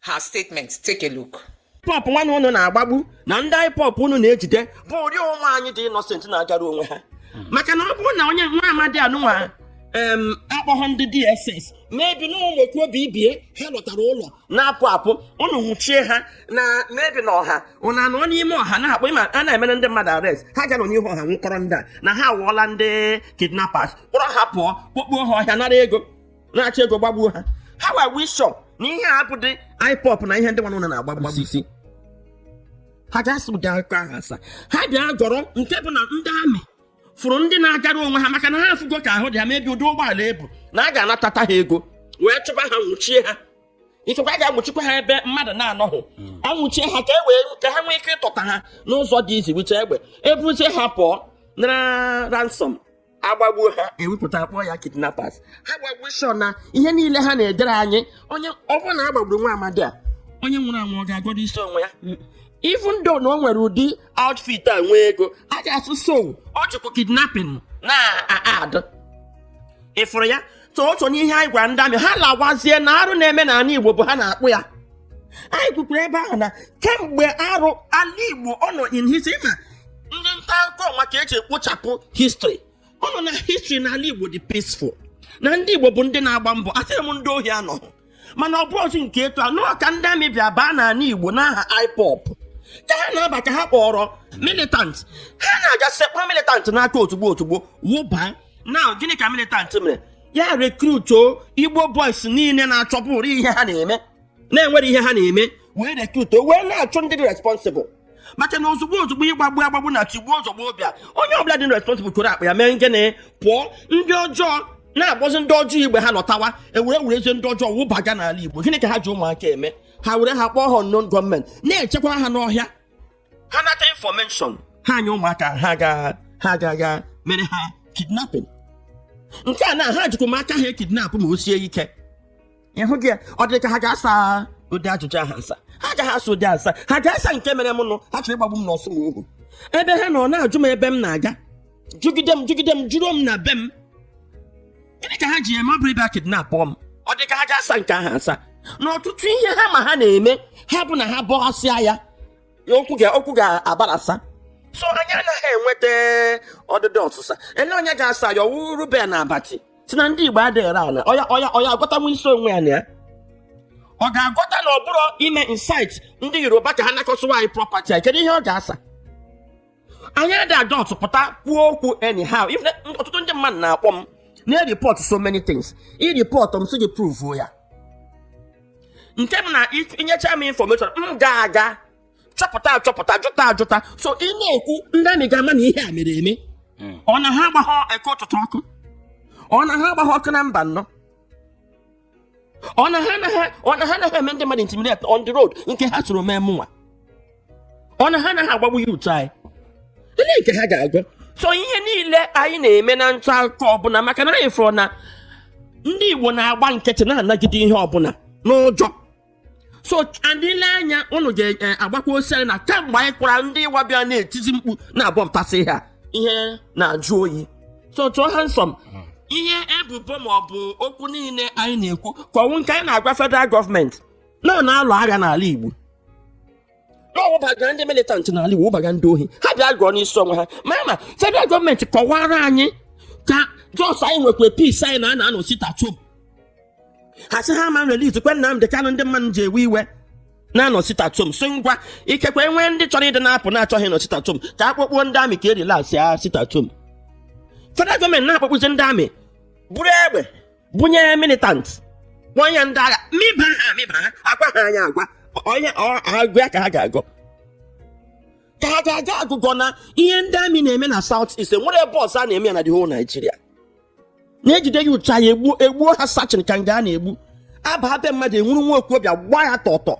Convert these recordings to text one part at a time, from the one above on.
her statement. Take a look. ipob nwanụ unu na-agbagbu na ndị ipob unu na-ejide bụ ụdị onwe anyị dị innocent na-agara onwe ha maka na ọ bụrụ na onye nwa amadi anụnwa em akpọghọ ndị dss maybe na ụlọ kwuo bibie ha lọtara ụlọ na-apụ apụ ụnụ nwụchie ha na maybe na ọha ụnụ anọ n'ime ọha na-akpọ ịma a na-emere ndị mmadụ arrest ha gara n'ihu ọha nwụkọrọ ndị a na ha awụọla ndị kidnappers kpọrọ ha pụọ kpọkpuo ha ọhịa nara ego na-achọ ego gbagbuo ha ha wee show na ihe a bụ ndị ipob na ihe ndị nwanụ na na-agbagbusi ha ga-asa ụdị akụkọ ahụ asa ha bịa gọrọ nke bụ na ndị army fụrụ ndị na-agara onwe ha maka na ha afụgo ka ahụ dị ha maybe ụdị ụgbọala ebu na a ga-anatata ha ego wee chụba ha nwụchie ha ikekwa a ga-anwụchikwa ha ebe mmadụ na-anọghị anwụchie ha ka e wee ka ha nwee ike ịtọta ha n'ụzọ dị easy wite egbe ebuzie ha pụọ nara ransom agbagbuo ha ewepụta kpọọ ya kidnappers ha gbagbuo show na ihe niile ha na-edere anyị onye ọ bụrụ na a gbagburu nwa amadi a onye nwụrụ anwụ ọ ga-agọdụ isi onwe ya even though na o nwere ụdị outfit a nwee ego a ga-asị so o jikwa kidnapping na-adụ ị fụrụ ya otu n'ihe anyị gwara ndị army ha lawazie na arụ na-eme n'ala igbo bụ ha na-akpụ ya anyị kwukwuru ebe ahụ na kemgbe arụ ala igbo ọ nọ in history ma ndị nta akụkọ maka eji ekpochapụ history ọ nọ na history na ala igbo dị peaceful na ndị igbo bụ ndị na-agba mbọ asịghị m ndị ohi anọghị mana ọ bụrụzi nke etu a nọọ ka ndị army bịa baa n'ala igbo n'aha ipob ka ha na-aba ka ha kpọrọ militant ha na-aga sekwa militant n'aka ozugbo ozugbo wụba na gịnị ka militant mere ya recruituo igbo boys niile na-achọburu ihe ha na-eme na-enwere ihe ha na-eme wee recruituo wee na-achọ ndị dị responsible maka na ozugbo ozugbo ịgbagbu agbagbu na tigbuo zọgbuo bịa onye ọbụla dị responsible koro akpa ya mee gịnị pụọ ndị ọjọọ na-akpọzi ndị ọjọọ ibe ha lọtawa e were werezi ndị ọjọọ wụbaga n'ala igbo gịnị ka ha ji ụmụaka eme ha were ha kpọọ ha unknown gọọmenti na-echekwa ha n'ọhịa ha nata information ha nye ụmụaka ha aga ha agaga mere ha kidnapping nke a na ha jikwa m aka ha ekidnapụ ma o sie ike ịhụ gị ya ọ dị ka ha ga-asa ụdị ajụjụ ahụ asa ha agaghị asa ụdị asa ha ga-asa nke mere m nụ ha chọrọ ịgbagbu m n'orsumoghu ebe ha nọ na-ajụ m ebe m na-aga jụgide m jụgide m jụrụ m na be m gịnị ka ha ji eme ọ bụrụ ịbịa kidnapụ m ọ dị ka ha ga-asa nke ahụ asa na ọtụtụ ihe ha ma ha na-eme ha bụ na ha bọghasịa ya okwu ga- okwu ga-agbarasa so anyị anaghị enweta ọdịdị ọsịsa ele onye ga-asa ya ọ wụ reuben abati si na ndị igbo adịghị ere ala ọ ya ọ ya ọ ya-agọtanwu isi onwe ya na ya ọ ga-agọta na ọ bụrọ ime incite ndị yoruba ka ha na-akụsịwa anyị property anyị kedu ihe ọ ga-asa anyị adị a-just pụta kwuo okwu anyhow If na- ọtụtụ ndị mmadụ na-akpọ m na-ereport so many things ireport m sị gị prove ya nke m na inyecha m information m ga-aga chọpụta achọpụta jụta ajụta so ị na-ekwu ndị amị ga-ama na ihe a mere eme ọ na ha agbaghọ Eke Ụtụtụ ọkụ ọ na ha agbaghọ ọkụ na Mbano ọ na ha anaghị ọ na ha anaghị eme ndị mmadụ intimidate on the road nke ha soro mee mụnwa ọ na ha anaghị agbagbu youth anyị olee nke ha ga-agọ so ihe niile anyị na-eme na nta akụkọ ọbụla maka na anyị fụrụ na ndị igbo na-agba nkịtị na-anagide ihe ọbụla n'ụjọ so ndị ile anya unu ga-agbakwa osiari na kemgbe anyị kwara ndị ịwa bịa na-etizi mkpu na-abọpụtasị ha ihe na-ajụ oyi so tụọ ha nsọ m ihe ebubo ma ọ bụ okwu niile anyị na-ekwu ka ọ wụ nke anyị na-agwa federal gọọmenti na ọ na-alụ agha n'ala Igbo na ọ wụbagara ndị militant n'ala Igbo wụbaga ndị ohi ha bịa gọọ n'isi onwe ha ma ma federal gọọmenti kọwara anyị ka just anyị nwekwa peace anyị na a na-anọ sit at home ha sị ha ma releasekwe Nnamdị Kanụ ndị mmadụ ji ewe iwe na-anọ sit at home so ngwa ikekwe nwee ndị chọrọ ịdị na-apụ na-achọghị ịnọ sit at home ka a kpọpụọ ndị amị ka e release ya sit at home federal gọọmenti na-akpọkpụzi ndị amị buru egbe bunye militant nwanya ndị agha mịba ha mịba ha agwa ha anya agwa onye agụ ya ka ha ga-agọ ka ha ga-agọ agụgọ na ihe ndị amị na-eme na South East nwere ebe ọzọ a na-eme ya na the whole Nigeria na e jide youth anyị egbuo egbuo ha sachin ka nga a na-egbu a baa be mmadụ e nwuru nwa okorobịa gbaa ya tọtọ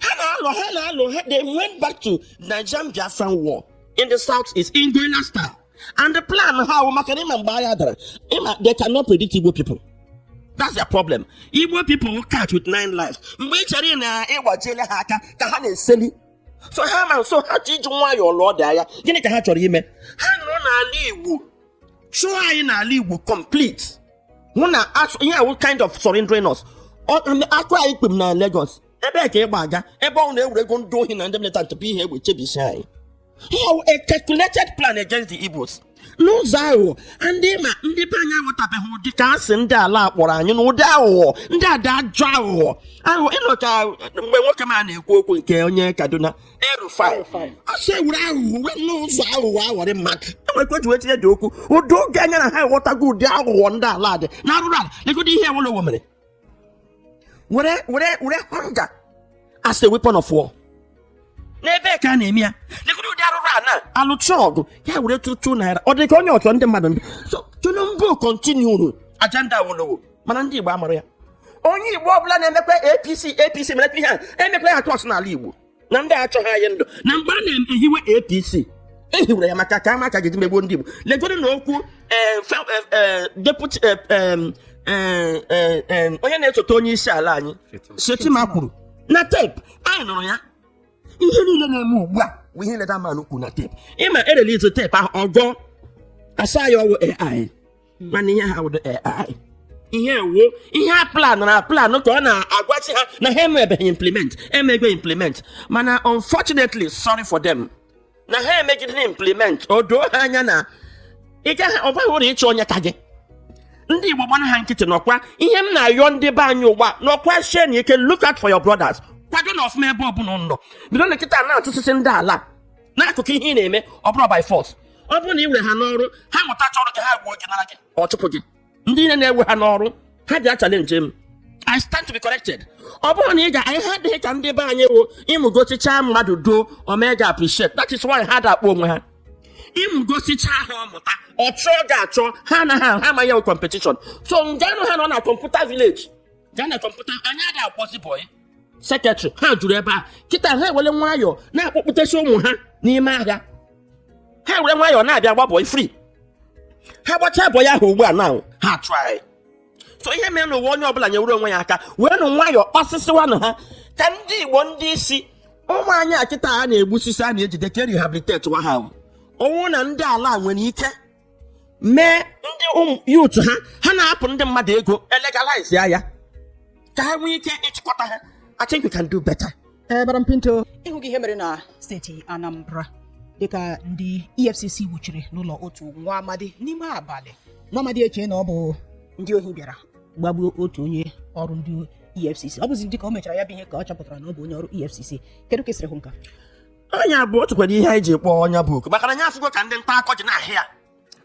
ha na-alụ ha na-alụ ha they went back to nigerian biafran war in the South East in guerrilla style and the plan ha wụ maka na ịma mgbe agha dara ịma they cannot predict igbo people that's their problem igbo people wụ cat with nine lives mgbe ị chere na ị gbajiela ha aka ka ha na-eseli so ha ma nso ha ji iji nwayọọ lụọ ụdị agha gịnị ka ha chọrọ ime ha nọrọ n'ala igbo chụọ anyị n'ala igbo complete hụ na ihe a wụ kind of surrendering us akụ anyị kpem na Lagos ebee ka ị gbaga ebe ọ na e werego ndị ohi na ndị militant bu ihe egbe chebisie anyị ọ wụ a calculated plan against the Igbos n'ụzọ aghụghọ ndị ma ndị be anyị aghọtabeghị ụdị ka asị ndị ala kpọrọ anyị na ụdị aghụghọ ndị a dị ajọ aghụghọ aghụghọ ịnọ ka mgbe nwoke m a na-ekwu okwu nke onye Kaduna El-Rufai ọ sị ewere aghụghọ wee n'ụzọ aghụghọ aghọrị mmadụ enwekwa ji wee tinye ụdị okwu ụdị oge anya na ha ghọtago ụdị aghụghọ ndị ala dị na arụrụ ala legodi ihe Awolowo mere were were were hunger as a weapon of war n'ebe ka a na-eme ya legodu ụdị arụrụana a lụcha ọgụ ya were tụtụ naira ọ dị ka onye ọchọ ndị mmadụ so tinubu kontinuru agenda awolowo mana ndị igbo amara ya onye igbo ọbụla na-emekwa apc apc mere ihe a emekwa ya atụ osu n'ala igbo na ndị achọghị anyị ndụ na mgbe a na-ehiwe apc ehiwere ya maka ka a ma ka a ga-eji megbuo ndị igbo legodu na okwu eh, fa- eh, eh, deputy eh, em, eh, eh, em, onye na-esote onye isi ala anyị shettima kwuru na tape anyị nụrụ ya ihe niile na-eme ugbu a bụ ihe nile that man kwuru na tape ịma e release tape ahụ ọ ga-asị ya ọ wụ ai mana ihe ha wụdo AI ihe a wụ ihe a plan na plan ka ọ na-agwachi ha na ha emebeghị implement emego implement mana unfortunately sorry for them na ha emegide implement o doo ha anya na ị gaghị ọ baghị uru ịchọ onye ka gị ndị igbo gbanụ ha nkịtị n'ọkwa ihe m na-ayọ ndị be anyị ugbu a nọkwa shienụ ike look out for your brothers kwadonụ ọfụma ebe ọbụla ụnụ nọ bidonụ kịta na-atụsịsị ndị ala n'akụkụ ihe ị na-eme ọ bụrọ by force ọ bụrụ na ị were ha n'ọrụ ha mụtacha ọrụ gị ha gbuo gị nara gị ọ chụpụ gị ndị niile na-ewe ha n'ọrụ ha bịa challenge m I stand to be corrected. ọ bụrụ na ị ga anyị ha adịghị ka ndị be anyị wụ ịmụgosicha mmadụ duo o mee gị appreciate that is why ha ada akpọ onwe ha ịmụgosicha ha ọ mụta ọ chụọ gị achụ ha anaghị ahụ ha amaghị ya competition so nganụ ha nọ na computer village gaa na computer anyị adịghị akpọzi bọyị secretary ha juru ebe a kịta ha ewere nwayọọ na-akpọpụtasị ụmụ ha n'ime ahịa ha were nwayọọ na-abịa gba bọyị free ha gbachaa bọyị ahụ ugbu a na ha try so ihe mere n'ụwa onye ọbụla nyewere onwe ya aka weenụ nwayọọ kpasịsịwanụ ha ka ndị igbo ndị isi ụmụ anyị a kịta ha na-egbusisi a na-ejide ka e rehabilitatewa ha ọ wụ na ndị ala nwere ike mee ndị ụmụ youth ha ha na-apụ ndị mmadụ ego e legalize ya ya ka ha nwee ike ịchịkọta ha I think we can do better. Eh, Madam Pinto, ị hụgo ihe mere na steeti Anambra dịka ndị EFCC wuchiri n'ụlọ otu nwa amadi n'ime abalị nwa amadi eche na ọ bụ ndị ohi bịara gbagbuo otu onye ọrụ ndị EFCC ọ bụzi dịka o mechara ya bụ ihe ka ọ chọpụtara na ọ bụ onye ọrụ EFCC kedu ka i siri hụ nke a nya bụ okwu kwere ihe anyị ji kpọọ nya bụ okwu maka na anyị afụgo ka ndị nta akụkọ ji na-ahịa ya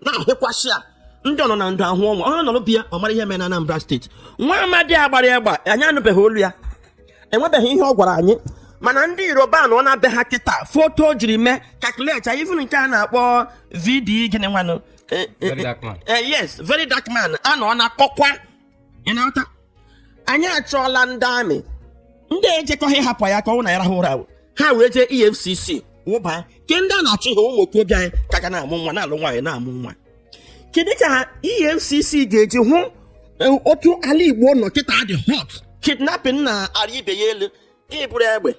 na-ahịkwasị ya ndị ọ nọ na ndụ ahụ ọnwa ọ nọrọ be ya ọ mara ihe mere na Anambra steeti nwa amadi a gbara egbe anyị anụbeghị olu ya enwebeghị ihe ọ gwara anyị mana ndị yoruba nọ na be ha kịta foto e jiri mee calculate even nke a na-akpọ VD gịnị nwanụ Eh, eh, Very dark man. eh, yes very dark man a nọ na-akọkwa ị na-aghọta anyị achọọla ndị army ndị ejekọghị hapụ ya ka ọ na-arahụ ụra ha wee jee efcc wụba ke ndị a na-achọ ihe ụmụ okorobịa anyị ka ga na-amụ nwa na-alụ nwaanyị na-amụ nwa kedu ka efcc ga-eji hụ e, otu ala igbo nọ kịta dị hot kidnapping na-arị ibe ya elu iburu egbe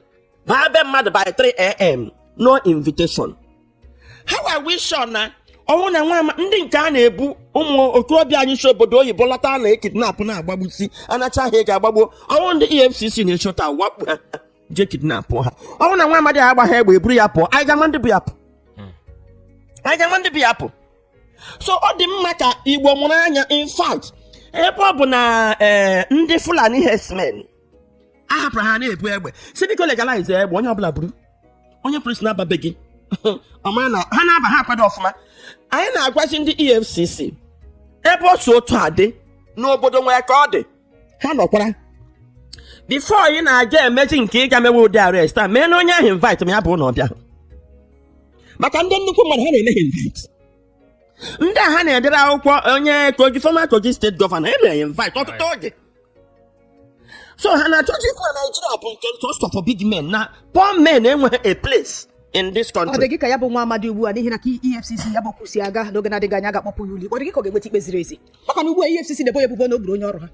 baa be mmadụ by 3am no invitation how are we sure na ọ wụ na nwa ama ndị nke a na-ebu ụmụ okorobịa anyị si obodo oyibo lọta a na-ekidnapụ na-agbagbusi anacha ha ego agbagbuo ọ wụ ndị efcc na-echọta wakpo ha je kidnapụ ha ọ wụ na nwa amadi a agbaghị egbe eburu ya pụọ anyị ga-ama ndị bu ya pụ anyị ga-ama ndị bu ya pụ so ọ dị mma ka igbo mụrụ anya in fact ebe ọ bụ na eh, ndị fulani herdsmen a hapụrụ ha na-ebu egbe si biko legalize egbe onye ọbụla buru onye polis na-aba be gị ọ mara na ha na-aba ha akwado ọfụma anyị na-agwazi ndị efcc ebe ọ si otu a dị n'obodo nwere ka ọ dị ha nọkwara before ị na-aga emezi nke ị ga-emewe ụdị arrest a mee na onye ahụ invite ma ya bụ na ọ bịa maka ndị nnukwu mmadụ ha na-eme ha invite ndị a ha na-edere akwụkwọ onye kogi former kogi state governor e mere ya invite ọtụtụ oge so ha na-achọzi ikwu na naijiria bụ nke just for big men na poor men enweghị a place in this country ọ dị gị ka ya bụ nwa amadi ugbu a n'ihi na ka efcc ya bụ kwusi a ga n'oge na-adịghị anya ga-akpọpụ ya ụlọikpe ọ dị gị ka ọ ga-enweta ikpe ziri ezi maka na ugbu a efcc na-ebo ya ebubo na o gburu onye ọrụ ha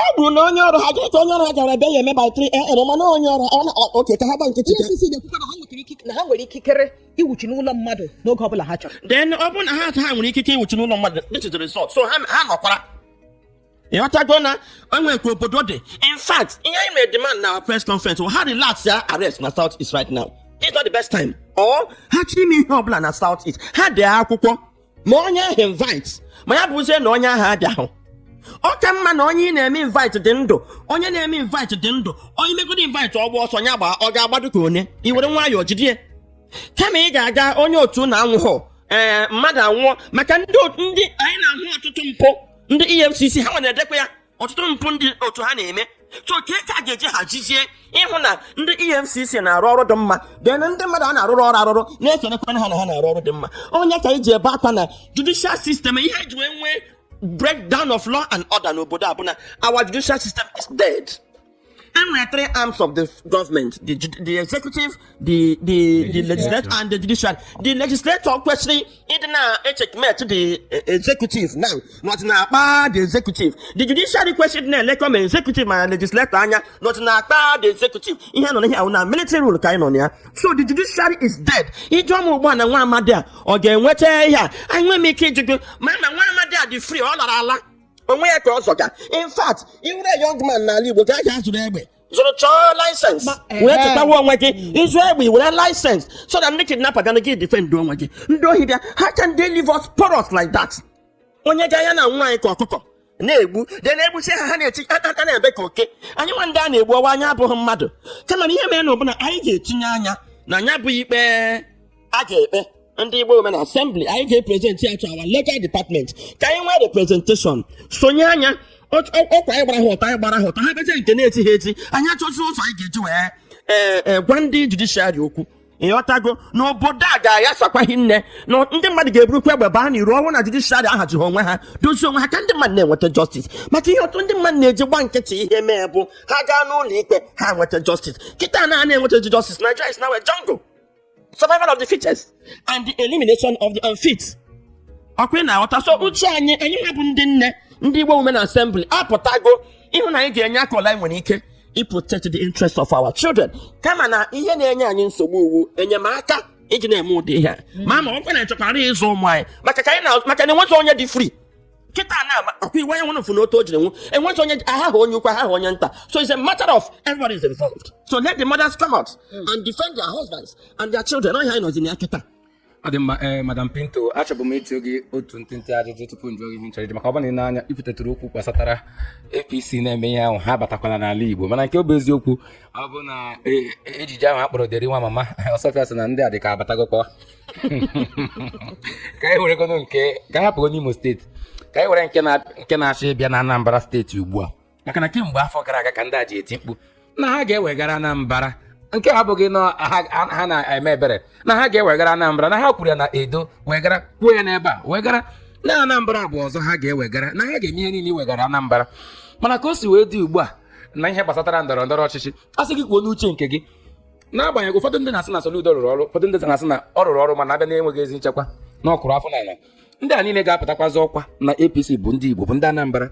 ọ bụrụ na onye ọrụ ha gịrị ka onye ọrụ ha gara ebe ya eme by 3 am mana onye ọrụ ọ na- ọ- oke ka ha gba nkịtị ka- efcc na-ekwukwa na ha nwetara ikike- na ha nwere ikikere ịwụchi n'ụlọ mmadụ n'oge ọ bụla ha chọrọ then ọ bụrụ na ha ha nwere ikike ịwụchi n'ụlọ mmadụ this is the result so ha ha nọkwara ịghọtago na enwere ka obodo dị in fact ihe anyị mere demand na our press conference wụ ha relax ya arrest na south east right now it's not the best time or ha chọrọ ime ihe ọbụla na south east ha dee akwụkwọ mee onye ahụ invite ma ya bụzie na onye ahụ abịahụ ọ ka mma na onye ị na-eme invite dị ndụ onye na-eme invite dị ndụ onye megoro invite ọ gbaa ọsọ ya gbaa ọ ga-agbado ka onye i were nwayọọ jide ya kama ị ga-aga onye otu na anwụghọ ee mmadụ anwụọ maka ndị otu- ndị anyị na-ahụ ọtụtụ mpụ ndị efcc ha nwa na-edekwa ya ọtụtụ mpụ ndị otu ha na-eme so kee ka a ga-eji hazizie ịhụ na ndị efcc na-arụ ọrụ dị mma then ndị mmadụ a na-arụrụ ọrụ arụrụ na-ekelekwanụ ha na ha na-arụ ọrụ dị mma ọ ya ka anyị ji ebe akwa na judicial system ihe eji wee nwee breakdown of law and order n'obodo a bụ na our judicial system is dead e nwere three arms of the government the, ju- the executive the the the legislature and the judiciary the legislature kwesịrị ịdị na-echeckmate the eh, executive now not na-akpa the executive the judiciary kwesịrị ịdị na-elekọ ma executive ma legislature anya not na-akpa the executive ihe nọ n'ihe ahụ na military rule ka anyị nọ na ya so the judiciary is dead ị jụọ mụ ugbu a na nwa amadi a ọ ga-enweta ihe a anyị nwere ike ịjụ gị ma na nwa amadi a dị free ọ lara ala onwe ya ka ọ zọga in fact every young man n'ala igbo ka a ga azụrụ egbe zụrụ chọọ license Ma- wee ehe. chekwawa onwe gị ị zụọ egbe i nwere license so that ndị kidnapper gana gị defend onwe gị ndị ohi bịa how can they leave us porous like that onye ga ya na nwa anyị ka ọkụkọ na-egbu de na-egbusi ha ha na-eti a- a- a na-ebe ka oke anyị nwa ndị a na-egbu ọ wụ anyị abụghị mmadụ kama na ihe merenụ bụ na anyị ga-etinye anya na ya bụ ikpe a ga-ekpe ndị igbo women assembly anyị ga-epresent ya to our legal department ka anyị nwee representation sonye anya Otu- ọ- ọkwa anyị gbara ha ụtọ anyị gbara ha ụtọ ha bezie nke na-eti ha eti anyị achọzi ụzọ anyị ga-eji wee ee ee gwa ndị judiciary okwu ịghọtago na obodo a ga-aghasakwa hinne na ndị mmadụ ga-eburukwa egbe baa n'iro ọ wụ na judiciary ahazighị onwe ha dozie onwe ha ka ndị mmadụ na-enweta justice maka ihe ọtụtụ ndị mmadụ na-eji gba nkịtị ihe mee bụ ha gaa n'ụlọ ikpe ha enweta justice kịta na a na-enweta justice Nigeria is now a jungle survival of the fittest and the elimination of the unfit ọkwa ị na-aghọta so uche anyị anyị nwa bụ ndị nne ndị Igbo women assembly apụtago ịhụ na anyị ga-enye aka ọ wụla nwere ike iprotect the interest of our children kama na ihe na-enye anyị nsogbu wụ enyemaka iji na-eme ụdị ihe a ma ma ọ bụrụ na ị chọkwara ịzọ ụmụ anyị maka ka anyị na maka na enweghị onye dị free kịta na akwa iwe nwe fụ n'otu o jiri nwụọ enweghị onye ahaghị onye ukwu ahaghị onye nta so it's a matter of everybody is involved so let the mothers come out hmm. and defend their husbands and their children ọ ihe a anyị nọzi na ya kịta ọ dị mma ee eh, madam biko achọbu m ịjụ gị otu ntịntị ajụjụ tupu m jụọ gị ihe m chọrọ maka ọ bụrụ na ị nee anya i kwutetụrụ okwu gbasatara APC na-eme ihe ahụ ha batakwala n'ala igbo mana nke ọ bụ eziokwu ọ bụ na eh, ejije ahụ a kpọrọ deri nwa mama ọsọfịa sị na ndị a dị ka abatagokwa ka anyị weregodu nke ka anyị hapụgodu imo steeti ka anyị were nke na- nke na-achọ ịbịa na anambra steeti ugbu a maka na kemgbe afọ gara aga ka ndị a ji eti mkpu na ha ga-ewegara anambra nke a abụghị na ha ha- ha na-eme ebere na ha ga-ewegara anambra na ha kwuru ya na edo wegara kwuo ya n'ebe a wegara na anambra bụ ọzọ ha ga-ewegara na ha ga-eme ihe niile iwegara anambra mana ka o si wee dị ugbu a na ihe gbasatara ndọrọ ndọrọ ọchịchị a sị gị kwuo n'uche nke gị n'agbanyeghị ụfọdụ ndị na-asị na Soludo rụrụ ọrụ ụfọdụ ndị na-asị na ọ rụrọ ọrụ mana a bịa na enweghị ezi nchekwa na ọkụrụ afọ n'ala ndị a niile ga-apụtakwazi ọkwa na APC bụ ndị Igbo bụ ndị Anambra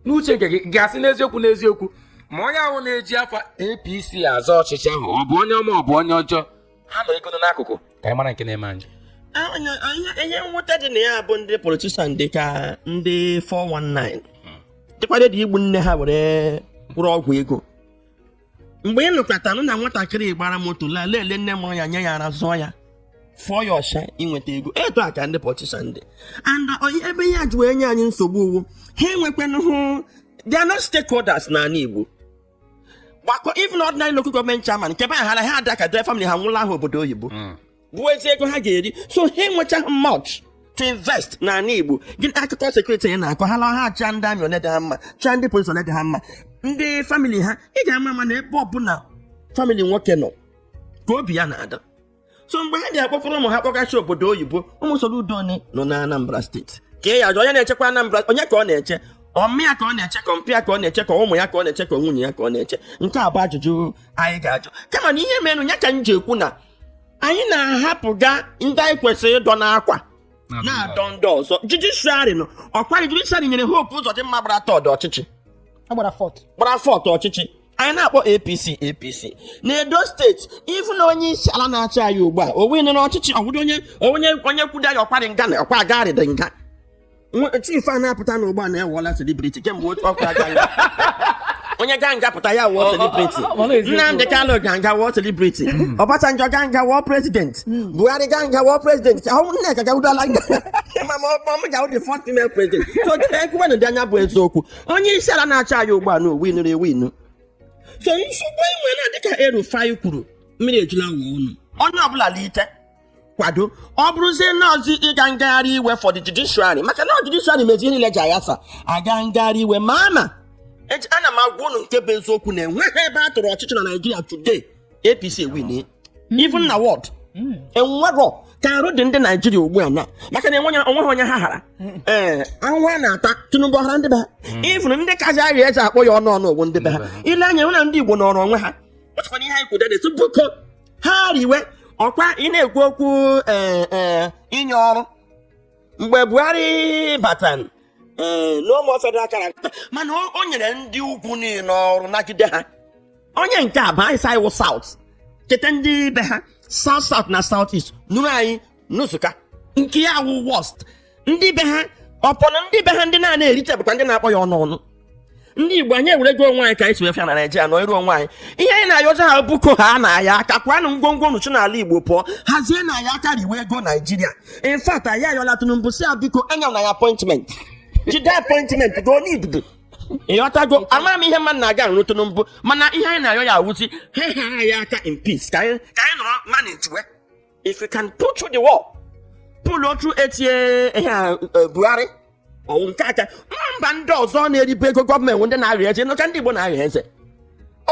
n'uche nke gị ga-asị n'eziokwu n'eziokwu ma onye ahụ na-eji afa APC azọ ọchịchị ahụ ọ bụ onye ọma ọ bụ onye ọjọọ ha nọgodu n'akụkụ ka anyị mara nke na-eme anyị ihe mwute dị na ya bụ ndị politician dị ka ndị 419 dịkwa ready igbu nne ha were gwọrọ ọgwụ ego mgbe ị nụkwatanụ na nwatakịrị gbara moto laa leele nne mụrụ ya nye ya ara zụọ ya fụọ ya ọcha inweta ego etu a ka ndị politician dị and ebe ihe a ji wee nye anyị nsogbu wụ ha enwekwanụhụ they are not stakeholders n'ala Igbo gbakọ even ordinary local government chairman nke be ahara ha ada ka dee family ha bulaa ha obodo oyibo bụ ezi ego ha ga-eri so ha enwechaghị much to invest n'ala Igbo gịnị akụkọ security ya na-akọ ha lọha cha ndị amị ole dị ha mma cha ndị polisi ole dị ha mma ndị family ha ị ga-ama ama na ebe ọbụla family nwoke nọ ka obi ya na-adị so mgbe ha ga-akpọkọrọ ụmụ ha kpọgasị obodo oyibo ụmụ Soludo ole nọ na Anambra steeti ka ị ya-ajụ onye na-echekwa Anambra onye ka ọ na-eche ọmịa ka ọ na-eche ka mpịa ka ọ na-eche ka ụmụ ya ka ọ na-eche ka nwunye ya ka ọ na-eche nke a bụ ajụjụ anyị ga-ajụ kama na ihe merenụ ya ka m ji ekwu na anyị na-ahapụga ndị anyị kwesịrị ịdọ n'akwa na-adọ ndị ọzọ judiciary nọ ọkwa judiciary nyere hope ụzọdịmma gbara third ọchịchị gbara fourth gbara fourth ọchịchị anyị na-akpọ apc apc n'edo steeti even onye isi ala na-achị anyị ugbu a o winiri ọchịchị ọ wụdị onye onye onye kwudo ya ọkwarị nga na ọkwa agarịdị nga Nwa- chief a na-apụta ugbu a na awụla celebrity kemgbe otu ọkụ aga ya onye ga nga pụta ya wụọ celebrity ọ- ọ- ọ- ọ- nnamdi kanu ga nga wụọ celebrity ọbasanjọ ga nga wụọ president buhari ga nga wụọ president ahụ nneka gawudala nga ma ma ọ m ga-awụ the first female president so ekwuwenụ dị anya bụ eziokwu onye isi ala na-achị anyị ugbu a na o winụrụ ewinu so nsogbu enwe na dịka el-rufai kwuru mmiri ejula awọ ọnụ onye ọbụla lite kwado ọ bụrụzie nọọsụ ịga ngagharị iwe for the judiciary maka na judiciary mezi niile ji ayasa aga ngagharị iwe ma ama eji ana m agwa unu nke bụ eziokwu na enweghị ebe a tụrụ ọchịchị na naijiria today apc win even na ward enwerọ ka arụ dị ndị naijiria ugbu a na maka na enweghị onweghị onye ha hara ee ahụhụ a na-ata tinubu ọ hara ndị be ha even ndị kazi arịa eze akpọ ya ọnụ ọnụ ọ wụ ndị be ha ile anya hụ na ndị igbo nọrọ onwe ha ọchịkwa na ihe anyị kwudere tupu ha riwe ọkwa ị na-ekwu okwu ee ee inye ọrụ mgbe buhari batara ee n'ụmụ federal character mana o o nyere ndị ugwu niile ọrụ nagide ha onye nke a bụ anyị sa ị wụ south cheta ndị ibe ha south south na south east nụrụ anyị nnusuka nke ya wụ worst ndị be ha upon ndị be ha ndị na-ana erite bụkwa ndị na-akpọ ya ọnụ ọnụ ndị igbo anyị ewerego onwe anyị ka anyị si wefịa na naijiria nọrọ onwe anyị ihe anyị na-ayọzi ha biko hanụ anyị aka kwanụ ngwongwo unu si n'ala igbo pụọ hazienụ anyị aka riwe ego naijiria in fact anyị ayọla tinubu si ya biko enyela anyị appointment jide appointment go n'idudu ịghọtago ama m ihe mmadụ na-aga arụ tinubu mana ihe anyị na-ayọ ya awụzi ha ha anyị aka in peace ka anyị ka anyị nọrọ manage we if we can pull through the war pull through eight years eh, ihe a eh, buhari ọ wụ nke a ka mba ndị ọzọ na-eribe ego gọọmenti ndị na-arịa eze nọcha ndị igbo na-arịa eze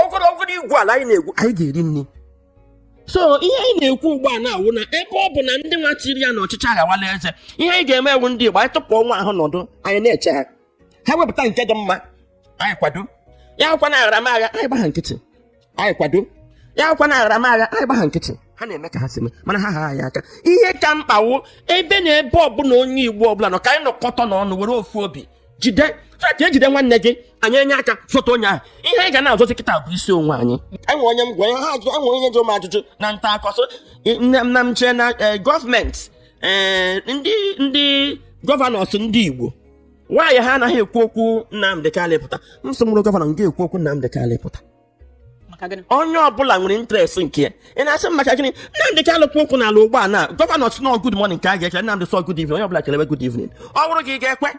ọgụrụ ọgụrụ igwu ala anyị na-egwu anyị ga-eri nri so ihe anyị na-ekwu ugbu a na-awụ na ebe ọ bụ na ndị nwa tiri ya na ọchịchị aghawala eze ihe anyị ga-eme wụ ndị igbo anyị tụpụ onwe anyị nọdụ anyị na-eche ha ha wepụta nke dị mma anyị kwado ya akwa na aghara m agha anyị gba ha nkịtị anyị kwado ya akwa na aghara m agha anyị gba ha nkịtị ha na-eme ka ha si mee mana ha ha anyị aka ihe ka mkpa wụ ebe na ebe ọbụla onye igbo ọbụla nọ ka anyị nọkọta n'ọnụ were ofu obi jide ka e jide nwanne gị anyị enye aka zọta onye ahụ ihe anyị ga na-azọzi kịta bụ isi onwe anyị enwe onye m gwa ya ha ajụ enwe onye jụ m ajụjụ na nta akụkọ nne m na m chee na eh, gọọmenti eh, ndị ndị gọvanọs ndị igbo why ha anaghị ekwu okwu Nnamdị Kalụ pụta m sị m wụrụ gọvanọ m ga-ekwu okwu Nnamdị Kalụ pụta maka gịnị onye ọbụla nwere interest nke ya ị na-asị m maka gịnị Nnamdị Kalụ kwu okwu n'ala ugbu a na gọvanọ sị na ọ good morning ka a ga-ekele Nnamdị sị ọ good evening onye ọbụla kelewe good evening ọ bụrụ gị ị ga-ekwe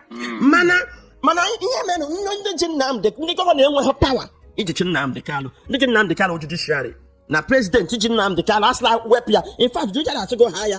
mana mana ihe mere na ndị ji Nnamdị ndị gọvanọ enweghị pawa ijichi Nnamdị Kalụ ndị ji Nnamdị Kalụ judiciary na prezidenti ji Nnamdị Kalụ asịla wepụ ya in fact judiciary asịgo haa ya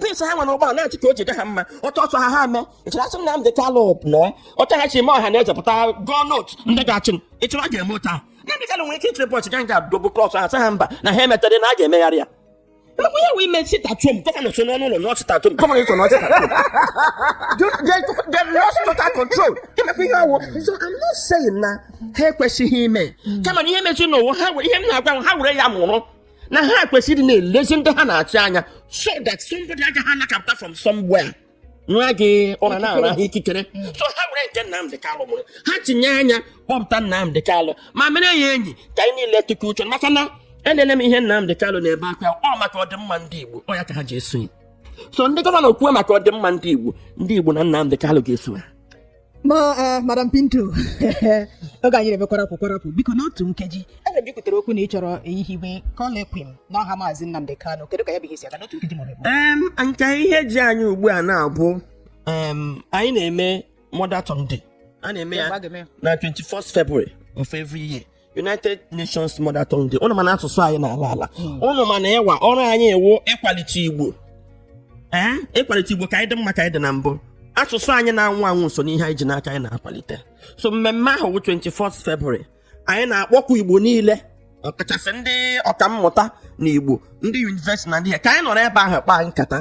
pins ha nwa n'ụgbọala na-achị ka o ji dị ha mma otu ọ sọ ha ha mee ịchọrọ asị Nnamdi Kanu na otu ha si eme ọha na eze pụta tụọ vootu ndị ga-achị m ịchọrọ a ga-eme otu ahụ Nnamdi Kanu nwere ike ịchịrị bọchị ga nga dobu klọs ha sị ha mba na ha emetaghị na a ga-emegharị ya Emekwa ihe wee mee sit at home gọvanọ so n'ọnụ ụlọ nọọ sit at home gọvanọ so nọọ sit at home Do- they- they lost total control ị makwa ihe ọ wụ so I'm not saying na ha ekwesịghị ime kama na ihe mezi n'ụwa ha were- ihe m na-agwa ha were ya mụrụ na ha kwesịrị na-elezi ndị ha na-achị anya so that somebody agaghị anọkata pụta from somewhere nwa gị ụra nara ha ikikere so ha were nke Nnamdị Kalụ mụrụ ha tinye anya kpọpụta Nnamdị Kalụ ma mere ya enyi ka anyị niile tụkọ uche maka na e lee ihe Nnamdị Kalụ na-ebe akwa ọ maka ọdịmma ndị Igbo ọ ya ka ha ji eso ya so ndị gọvanọ kwuo maka ọdịmma ndị Igbo ndị Igbo na Nnamdị Kalụ ga-eso ya ma eh, madam pinto oge anyị na-eme kwarapụ kwarapụ biko n'otu nkeji ebe i kwutere okwu na ị chọrọ ihiwe colloquium n'aha maazị nnamdị kanu kedu ka ya bụ ihe si aga n'otu nkeji maọbụ abụọ Em, nke ihe ji anyị ugbu a na-abụ em, anyị na-eme mother tongue day a na-eme ya na 21st February of every year United Nations Mother Tongue Day ụnụ ma na asụsụ anyị na-ala ala ụnụ ma na IWA ọrụ anyị wụ ịkwalite Igbo ee ịkwalite Igbo ka anyị dị mma ka anyị dị na mbụ asụsụ anyị na-anwụ anwụ ọ so n'ihe anyị ji n'aka anyị na-akwalite so mmemme ahụ bụ 24th February anyị na-akpọku Igbo niile ọkachasị ndị ọkammụta na Igbo ndị yunivesiti na ndị ya ka anyị nọrọ ebe ahụ kpaa nkata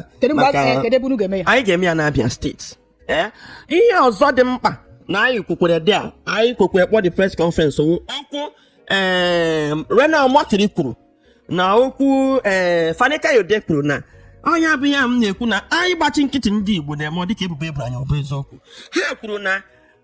anyị ga-eme ya n'Abia steeti ee ihe ọzọ dị mkpa na anyị kwukwere there anyị kwekwe kpọ the press conference wụ okwu ee reno omokri kwuru na okwu ee fani-kayode kwuru na onye bụ ya m na-ekwu na anyị gbachi nkịtị ndị igbo na-eme ọ dịka ebubo e boro anyị ọ bụ eziokwu ha kwuru na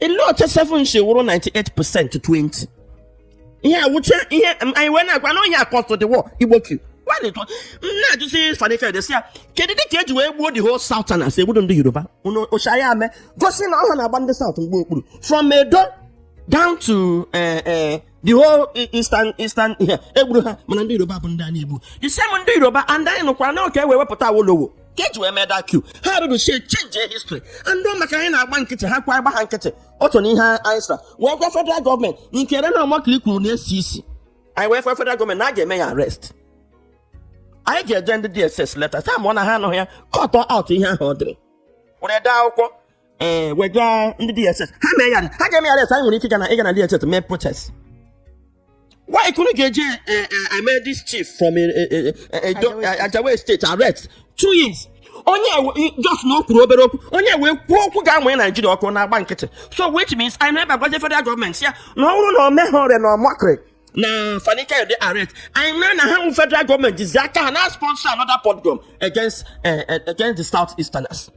ele otu 7 si wụrụ 98 percent 20 ihe a wuche ihe m- anyị wee na-agwa na onye akọstụ the war igbo coup nwanne tọ m na-ajụzi fani kayode sị ya kedu dị ka eji wee gbuo the whole southerners egbudo ndị yoruba unu ụcha ya mee gosi na ọ ha na-agba ndị south mgba okpuru from edo down to eh, eh, the whole i- eastern eastern ihe egburu ha mana ndị yoruba bụ ndị a na-egbu the same ndị yoruba and anyị nụkwara na ọ ka e wee wepụta awolowo ka eji wee mee that coup ha rụrụ sie change history and ọ maka anyị na-agba nkịtị ha kwa agba ha nkịtị otu na ihe anyị sara wee gwa federal gọọmenti nke reno omokri kwuru na-esi isi anyị wee gwa federal gọọmenti na a ga-eme ya arrest anyị ga-eje ndị dss leta sa mụọ na ha anụghị ya kọtọ out ihe ahụ o dere were dee akwụkwọ ee eh, wega ndị dss ha mee ya ha ga-eme ya anyị nwere ike ịga na ịga na dss mee protest why unu ga-eji eh, eh, eme this chief from ajao estate arrest two years onye just na o kwuru obere okwu onye wee kwuo okwu ga-amụnye naijiria ọkụ na-agba nkịtị so which means anyị na-ebe agwaje federal gọọmenti ya na ọ bụrụ na o meghị reno omokri na fani kayode arrest anyị ama na ha wụ federal gọọmenti ji aka ha na sponsor another pogrom against against the south easterners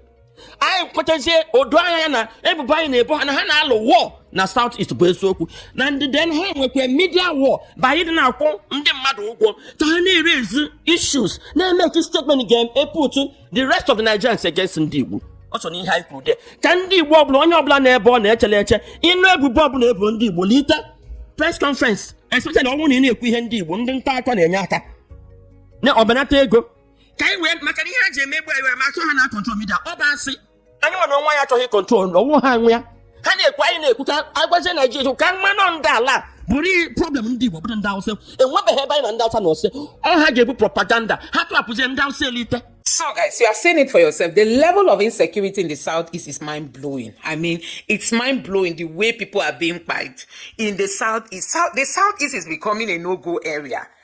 anyị kwetazie o doo anya na ebubo anyị na-ebo ha na ha na-alụ war na South East bụ eziokwu and then ha nwekwa media war by ịdị na-akwụ ndị mmadụ ụgwọ ka ha na-erezi issues na-emeki statement ga-eput the rest of the Nigerians against ndị Igbo ọ so n'ihe anyị kwuru de ka ndị Igbo ọbụla onye ọbụla n'ebe ọ na-echele eche ị nụ ebubo ọbụla ebo ndị Igbo lite press conference especially ọ wụ na ị na-ekwu ihe ndị Igbo ndị nta akụkọ na-enye aka na ọbanata ego ka anyị wee maka na ihe ha ji emegbu anyị ma achọ ha na control media ọ bụ asị anyị nwere onwe ya achọghị control na ọ wụ ha nwe ya ha na-ekwu anyị na-ekwu ka agwazie naijiria ka mmanụ ndị ala a bụrụ ihe problem ndị igbo bụrụ ndị awụsa enwebeghị ebe anyị na ndị awụsa na-ese ọ ha ga-ebu propaganda ha tụrapụzie ndị awụsa elite So, guys, you have seen it for yourself. The level of insecurity in the southeast is mind blowing. I mean, it's mind blowing the way people are being fight in the southeast. South, the southeast is becoming a no go area.